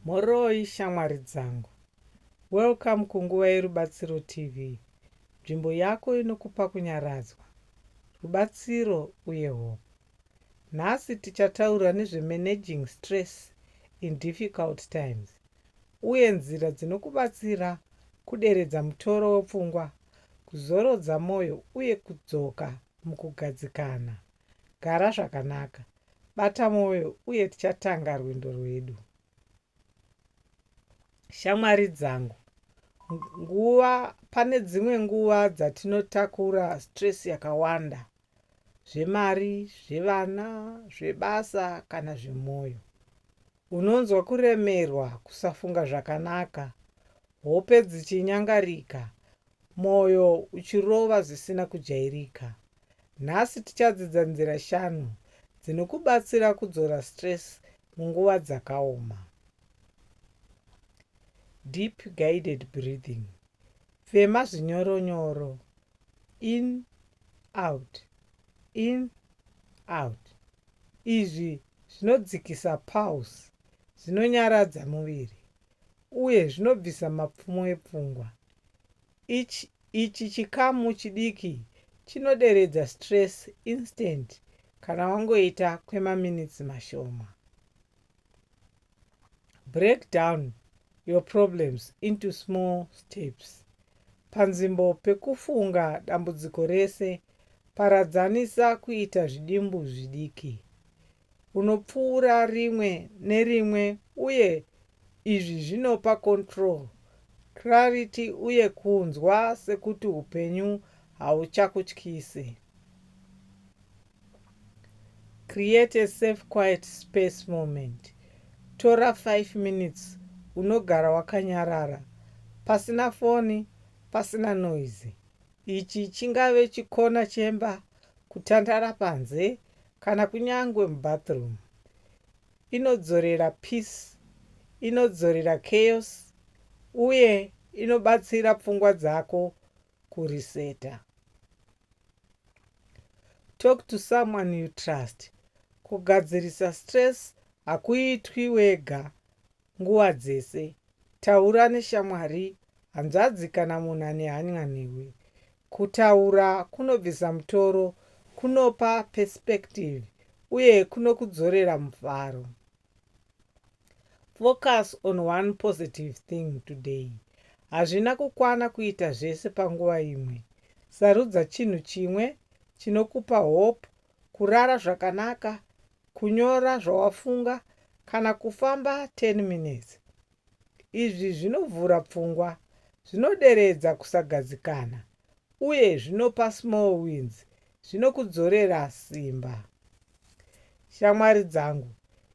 Mhoroi shamwari dzangu. Welcome kunguva yeRubatsiro TV, nzvimbo yako inokupa kunyaradzwa, rubatsiro uye hope. Nhasi tichataura nezvemanaging stress in difficult times uye nzira dzinokubatsira kuderedza mutoro wepfungwa, kuzorodza moyo uye kudzoka mukugadzikana. Gara zvakanaka. Bata mwoyo uye tichatanga rwendo rwedu. Shamwari dzangu, nguva pane dzimwe nguva dzatinotakura stress yakawanda zvemari, zvevana, zvebasa kana zvemwoyo. Unonzwa kuremerwa, kusafunga zvakanaka, hope dzichinyangarika, mwoyo uchirova zvisina kujairika. Nhasi tichadzidza nzira shanu dzinokubatsira kudzora stress munguva dzakaoma. Deep guided breathing. Fema zvinyoro nyoro. In out. In out. Izvi zvinodzikisa pulse, zvinonyaradza muviri uye zvinobvisa mapfumo epfungwa. Ichi ichi chikamu chidiki chinoderedza stress instant kana wangoita kwemaminitsi mashoma. Break down your problems into small steps. Panzvimbo pekufunga dambudziko rese, paradzanisa kuita zvidimbu zvidiki. unopfuura rimwe nerimwe uye izvi zvinopa control, clarity uye kunzwa sekuti upenyu hauchakutyisi. Create a safe quiet space moment. Tora 5 minutes unogara wakanyarara, pasina foni, pasina noise. Ichi chingave chikona chemba kutandara panze kana kunyangwe mubathroom. Inodzorera peace, inodzorera chaos uye inobatsira pfungwa dzako kuriseta. Talk to someone you trust. Kugadzirisa stress hakuitwi wega nguva dzese. Taura neshamwari, hanzvadzi kana munhu ane hany'a newe. Kutaura kunobvisa mutoro, kunopa perspective uye kunokudzorera mufaro. Focus on one positive thing today. Hazvina kukwana kuita zvese panguva imwe. Sarudza chinhu chimwe chinokupa hope kurara zvakanaka, kunyora zvawafunga kana kufamba 10 minutes. Izvi zvinovhura pfungwa, zvinoderedza kusagadzikana uye zvinopa small wins zvinokudzorera simba. Shamwari dzangu,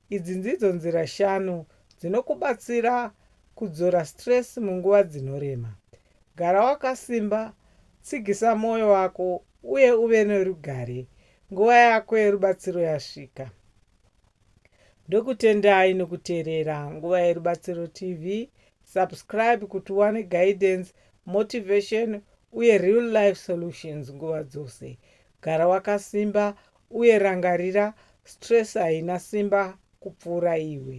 Idzi ndidzo nzira shanu dzinokubatsira kudzora stress munguva dzinorema. Gara wakasimba, tsigisa mwoyo wako uye uve nerugare. Nguva yako yerubatsiro yasvika. Ndokutendai nokuteerera Nguva yeRubatsiro TV. Subscribe kuti uwane guidance, motivation uye real life solutions nguva dzose. Gara wakasimba Uye rangarira, stress haina simba kupfuura iwe.